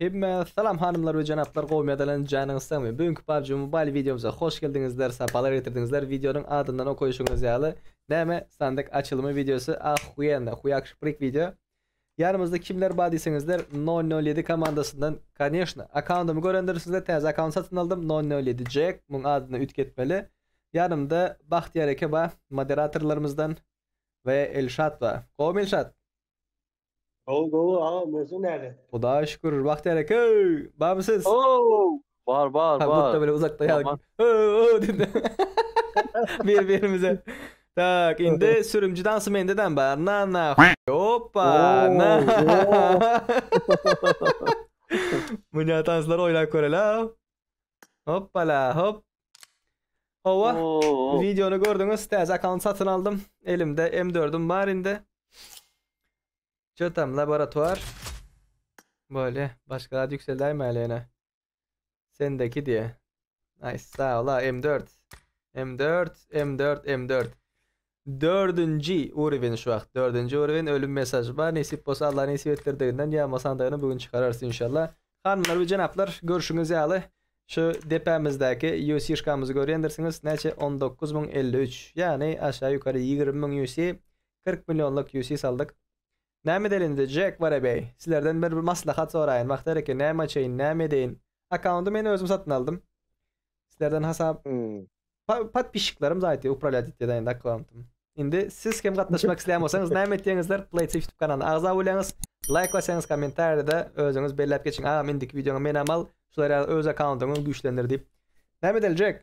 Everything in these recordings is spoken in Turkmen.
Hemme salam hanymlar we janaplar gowy medalan janyňyz sagmy bu günki PUBG Mobile wideomyza hoş geldiňizler sapalar getirdiňizler wideonyň adyndan okaýşyňyz ýaly näme sandyk açylymy wideosy ahuýenno huýakşprik wideo Ýanymyzda kimler bar diýseňizler nol nol ýedi komandasyndan koneşno akkaundymy görendirsiňizler täze akkaunt satyn aldym nol nol ýedi jack muň adyna üýtgetmeli ýanymda Bahtiýar eke bar moderatorlarymyzdan we Elşat bar gowumy Elşat. Gowy gowy agam özüň näle. Hudaýa şükür Bahtiýar eke barmy siz. Hoow Bar bar bar. Gutda bile uzakda ýa. Ööö diýdi. Bir birimize. Tak indi sürümji dansy mende dam bar. Na na hoppa na. Münä tanslar oýlap körele. Hoppala hop. Owa. Videony gördüňiz. Täze akkaunty satyn aldym. Elimde M4-üm bar indi. Çö tam laboratuar bolýa başga zat ýükseldäýmäli ýene sendeki diýe nice sag ola m dört m dört m dört m dört dördünji urewen şu wagt dördünji urewen ölüm mesaj bar nesip bolsa alla nesip etdirdiginden ýa masandagyny bu gün çykararys inşallah hanymlar we jenaplar görşüňiz ýaly şu depämizdäki ýusi şkamyzy görýändirsiňiz näçe on dokuz müň elli üç ýagny aşa ýukary ýigrimi müň ýusi Kyrk millionlyk UC saldyk. Näme edeli indi Jack Wara bey? Sizlerden bir bir maslahat soraýyn. Wagt hereke näme açaýyn, näme edeýin? Akkaundy men özüm satyn aldym. Sizlerden hasap Pa- Podpisçiklerim zaýty upralýat etýär da indi akkauntym. Indi siz hem gatnaşmak isleýän bolsaňyz näme etýäňizler? Play TV YouTube kanalyna agza bolýaňyz. Laýk basýaňyz, kommentariýada özüňiz belläp geçiň. Agam indiki wideoňa menem al. Şular ýaly öz akkauntyňy güýçlendir diýip. Näme edeli Jack?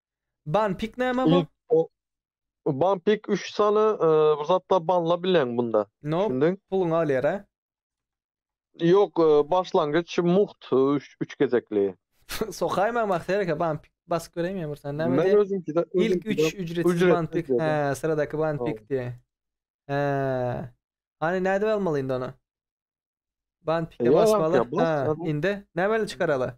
Ban pik näme bu? Ban pik üç sany bir zatlar banla bileň bunda. No, puluňy alýar a? Ýok, başlangyç mugt üç gezekli. Sokaý maňa Sereke ban pik basyp göreýin men bir sany näme diýýär? Men özümkide ilk üç ücretsiz ban pik. Hä, syradaky ban pik diýýär. Hä. Hany nädip almaly indi ony? Ban pike basmaly. Hä, indi näme bilen çykarala?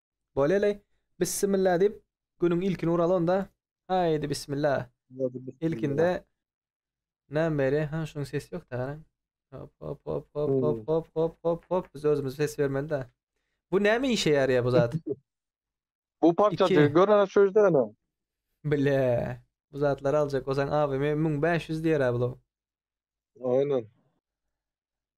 Boleli, bissimilla diýip, günüň ilkini uraly onda. Haýydy bissimilla. Hadi Ilkinde bismillah. näme beri? Ha, şunuň sesi ýok-da garaň. Hop, hop, hop, hop, hop, Hmm. hop, hop, hop, hop. Biz özümiz ses bermeli-dä. Bu näme işe ýaraýar bu zat? Bu parçajy İki. görene şu ýerdene. Bile. Bu zatlary aljak bolsaň AVM 1500 diýer-ä bu. Aynen.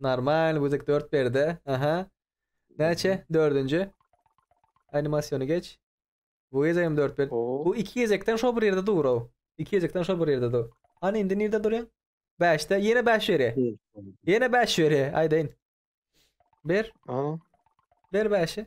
Normal güzik 4 berde. Aha. Näçe? Dördünji. Animasyony geç. Bu gezek hem 4 ber. Bu iki gezekden şo bir yerde dur o. İki gezekden şo bir yerde dur. Hani indi nirde duruyor? 5'te. Yine 5 veri. Yine 5 veri. Aydayın. Ber. Aa. Ber 5'i.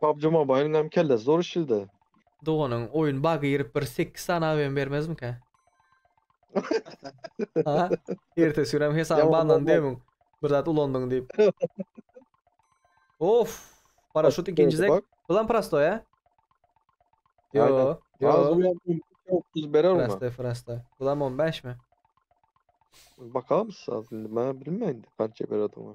Pubg Mobile'yň hem kellesi zor işldi. Doganyň oýun bug girip bir sekiz sany AWM bermezmika? Ha? Ertesi gün hem hesabyň Ýaman banlandy bolmaz. diýemiň. Bir zat ulandyň diýip. Of! Paraşut Açyk ikinji boldy zek. bak. Bu lan prostoý a? Yo, Aynen. Az yo. ulan otuz berer ona. Prostoý, prostoý. Bu lan 15 mi? Bakamyz az indi. Ben bilmeyin kança berer ona.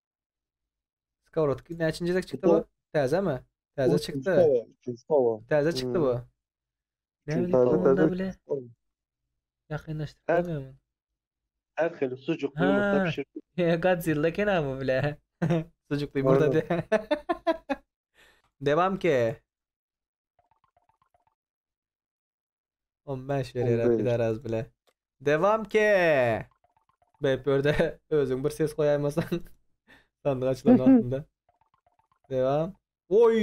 Skowrotka näçinji gezek çykdy bu? Täzemi? Täze çykdy. Täze çykdy bu. Näme onda bile? Ýakynlaşdyramyň? Her hili sucukly ýumurtda pişirdi. Godzilla eken bu bile. Sucukly ýumurtda diýip. Devam ke. 15 On berýär beş. pidaraz bile. Devam ke. Bep ýerde özüň bir ses goýaýmasaň. Sandyk açylan wagtynda. Devam. Oy,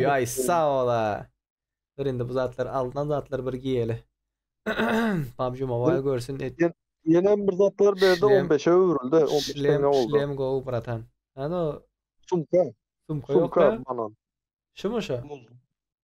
Oo. ay sağ ola. Dur indi bu zatlar aldan zatlar bir giyeli. PUBG Mobile görsün et. Ýene bir zatlar berdi Şlem. 15-e öwrüldi. 15 Şlem, tenge oldu. şlem go bratan. Ano Sumka. sumka yok Sumka ya. banan. Şu mu şu?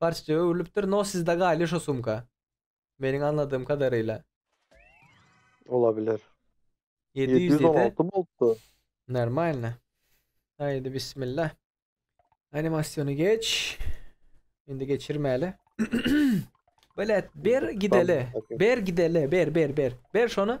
Barçja öwrülipdir no sizde galy şo sumka. Meniň aňladym kadaryla. Olabiler. 700 diýdi. 716 bolupdy. Normalno. Haydi bismillah. Animasyonu geç. Şimdi geçirmeli. Belet ber gideli. Ber gideli. Ber ber ber. Ber şonu.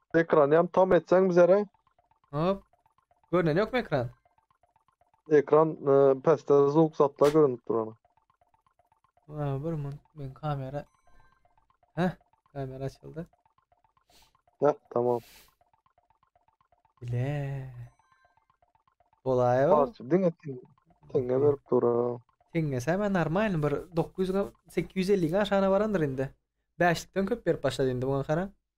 Ekran ýam tam etseň bizere. Hop. Görnen yok mu ekran? Ekran e, peste zuk zatla görünüp duran. Aa, bir mun ben kamera. Heh, kamera açıldı. Heh, tamam. Bile. Olay o. Parça diňe tin- tinge berip dura. Teňňese hemen normal bir 900 ga- 850 aşana barandyr indi. Bäşlikden köp berip başlady indi buna kara.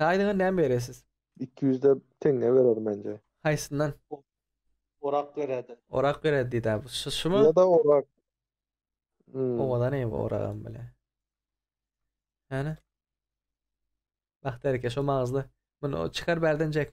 Haýdyňa näme beresiz? Iki ýüzde teňňe berer menje. Haýsyndan? Orak bererden. Orak berer diýdä bu. Şu şumy? Ýa-da orak. Hmm. Owadan eý bu oragam bile. Hany? Bak dereke şo magyzly. Muny çykar bärden Jack.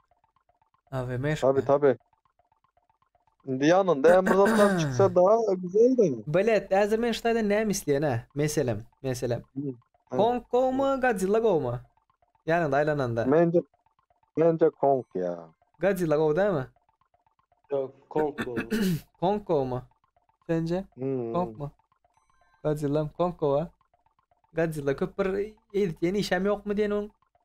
Abi meşk. Tabi tabi. Indi ýanynda hem bir zatlar çyksa da güzeldi. Bilet, häzir men şu taýdan näme isleýän hä? Meselem, meselem. Kong gowmy, Godzilla gowmy? Ýanyňda aýlananda. Mence Mence Kong ýa. Godzilla gowy dämi? Yok, Kong bu. Kong gowmy? Sence? Hmm. Kong mu? Godzilla Kong gowa. Godzilla köp bir edýän işem ýokmy diýen oň.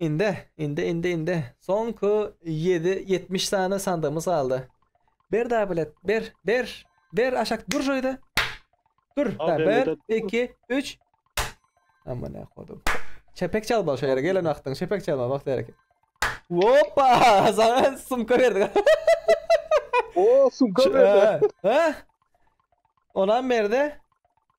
Indi, indi, indi, indi. Soňky ýedi, ýetmiş sany sandygymyz galdy. Ber dabilet, ber, ber, ber aşak dur şöýde. Dur, Al, da, ben ber, ödedim. iki, üç. Amana kodum. Çepek çalma şu ýere gelen wagtyň, çepek çalma wagt ýerek. Hoppa! Sana sumka berdik. Oo sumka berdi. Ha? Onam berdi.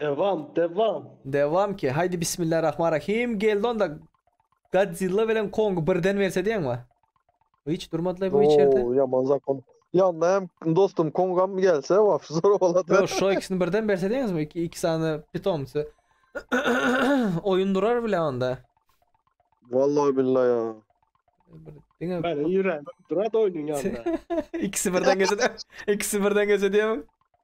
Devam devam. Devam ki haýdi bismillarahmarahim geldi onda Godzilla bilen Kong birden berse diýeňmi? Hiç durmadylar bu içerde. Oo yaman zakon. Yanına hem dostum kongam gelse vaf zor boladı. Yo şu ikisini birden berse diýeňizmi? İki, iki sany pitomsy. Oyun durar bile onda. Vallahi billahi ya. Bir- Diňe Ben yüreğim durat oyunun yanında. ikisi birden gelse de, ikisi birden gelse diýemem.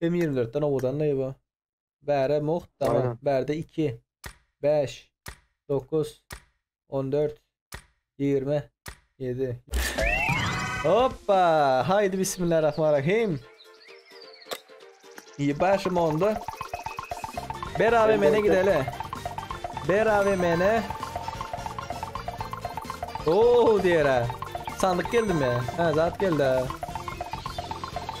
M ýigrimi dörtden owadanlaý bu. Bärä mugt dama. Bärde iki. Bäş. Dokuz. On dört. Ýigrimi. Ýedi. Hoppa! Haýdy bismillarahmarahim. Ýebaşym onda. Ber AVM-ne gideli. Ber AVM-ne. Oo diýerä. Sandyk geldimi? Hä, zat geldi.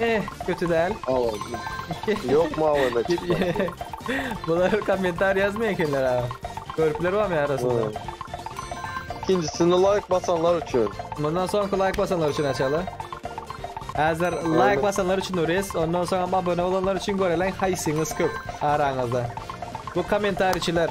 Eh, kötü däl. Awa. Ýok mawy da çykmaýar. Bular kommentar ýazmaýan ekenler ha. Görüpler barmy arasynda? Hmm. İkincisini like basanlar üçin. Bundan soňky like basanlar üçin açaly. Hazır like basanlar üçin ures, ondan soň hem abone olanlar üçin görelen haýsyňyz köp araňyzda. Bu kommentariçiler.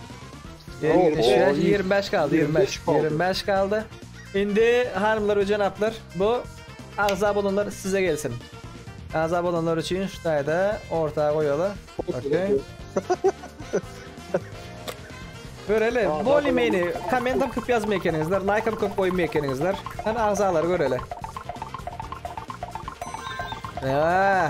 Ýigrimi bäş, ýigrimi bäş galdy, ýigrimi bäş, ýigrimi bäş galdy. Indi hanymlar we jenaplar, bu agza bolanlar size gelsin. Agza bolanlar üçin şu taýda orta goýaly. Okey. Göreli, boli meni, komment hem köp yazmay ekeninizler, like hem köp koymay ekeninizler. Hani agzalar göreli. Eee.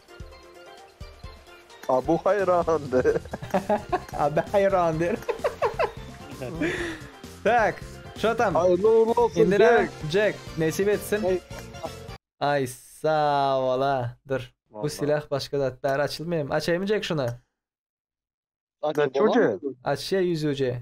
Abu haýrandy. Abu haýrandy. Tak, şo tam. Haýyrly ugrly bolsun. Indi näme? Jack, nesip etsin. Ay sağ ola. Dur. Bu silah başga zat bäri açylmaýam. Açaýmy Jack şuna? Açaýmy? Açýa ýüzüje.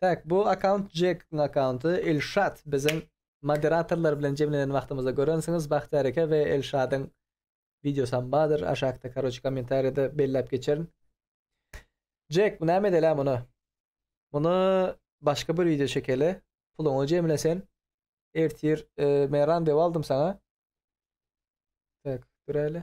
Tak bu akaunt Jekiň akaunty Ilşat biziň moderatorlar bilen jemlenen wagtymyzda görensiňiz Bahtyýar eke we Elşadyň wideosam bardyr aşakda karoçe kommentariýada belläp geçerin. Jek bu näme edelä muny muny başga bir wideo çekeli puluňy jemle sen ertir men randewu aldym saňa. Tak duräýli.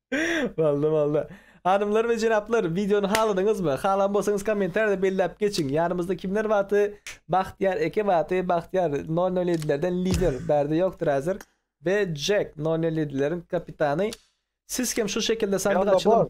Boldy, boldy. Hanymlar we jenaplar, wideony haladyňyzmy? Halan bolsaňyz kommentariýada belläp geçiň. Ýanymyzda kimler bardy? Bagtyýar eke bardy. Bagtyýar 007-lerden lider, bärde ýokdur häzir. We Jek 007-leriň kapitany. Siz hem şu şekilde sandyk açylymy?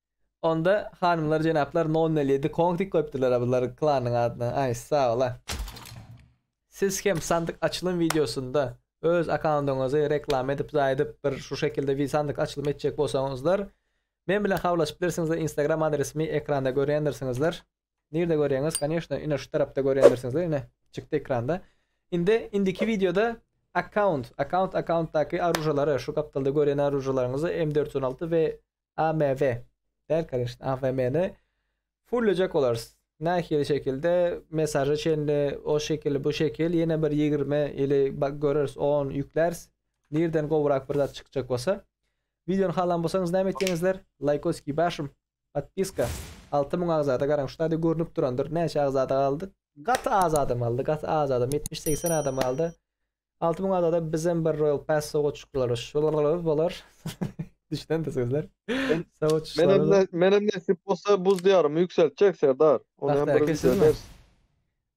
Onda hanymlar jenaplar nol nol ýedi kong diýip goýupdyrlar a bular klanyň adyna aý saola. Siz hem sandyk açylym wideosynda öz akkaundyňyzy reklama edip zaýadyp bir şu şekilde wi sandyk açylym etjek bolsaňyzlar men bilen habarlaşyp bilersiňizler instagram adresimi ekranda görýändirsiňizler nirde görýäňiz koneşno ine şu tarapda görýändirsiňizler ine çykdy ekranda indi indiki wideoda akkaunt akkaunt akkauntdaky arujalary şu gapdalda görýän arujalarňyzy m dört ýüz on alty we AMV däl kanyşna AVM-ni fullejek bolarys. Nähili şekilde mesaja çenli o şekil bu şekil ýene bir 20 ili göreris 10 ýükläris. Nirden gowrak bir zat çykjak bolsa. Videony halan bolsaňyz näme etýäňizler? Laýkoski başym. Podpiska. 6000 agzada garaň şu taýda görnüp durandyr. Näçe agzada galdy? Gaty az adam galdy. Gaty az adam 70-80 adam galdy. Altı müň adada bizem bir Royal Pass sow uçuşlary şularlar bolar. Düşünen de sözler. Sow Men uçuşlary hem da. ne, men hem nesip bolsa buz diyarymı yükseltjek Serdar. Onu hem Bahtiyar bir eke video sizmi? edersin.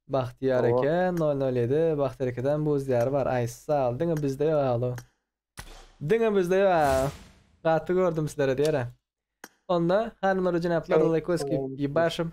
Bahtiyar Owa. eke 007 Bahtiyar ekeden buz diyarı bar. Ay sağ ol. Diňe bizde yok alo. Diňe bizde yok. ha. Gaty gördüm sizlere diyara. Onda hanımlar ve cenaplar Evet, likeos kiyip tamam. yibarşim.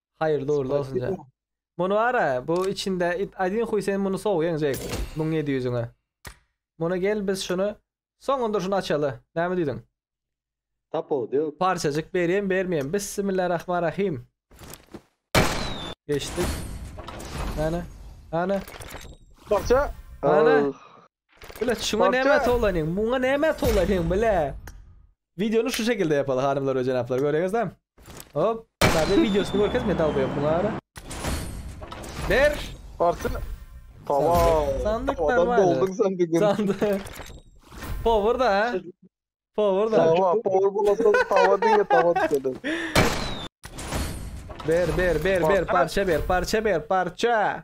Haýyrly ugrly bolsun Jack. Spasibo. Muny bara bu içinde it adin huý sen muny sowýaň Jack muň ýedi ýüzüňe. Muny gel biz şuny soňun dur şuny açaly. Näme diýdiň? Tapawudy ýok. Parçajyk berýem bermeýem Bissimillarahmarahim. Geçdik. Hany? Hany? Parça. Ana. Ahh. Bile şuna Barça. näme tolanyň? Muňa näme tolanyň bile? Videony şu şekilde ýapaly hanymlar we jenaplar göreňizlämi? Hop, sadece videosyny görkez men dalbaýyp muňa ara. Ber. Barça. Tamam. Sandyk Tamam, adam normalde. doldun sen bir gün. Sandı. Power da ha. Power da. Tamam, power bulasa tava diye tava düşedi. Ber ber ber ber Barça. parça ber parça ber parça.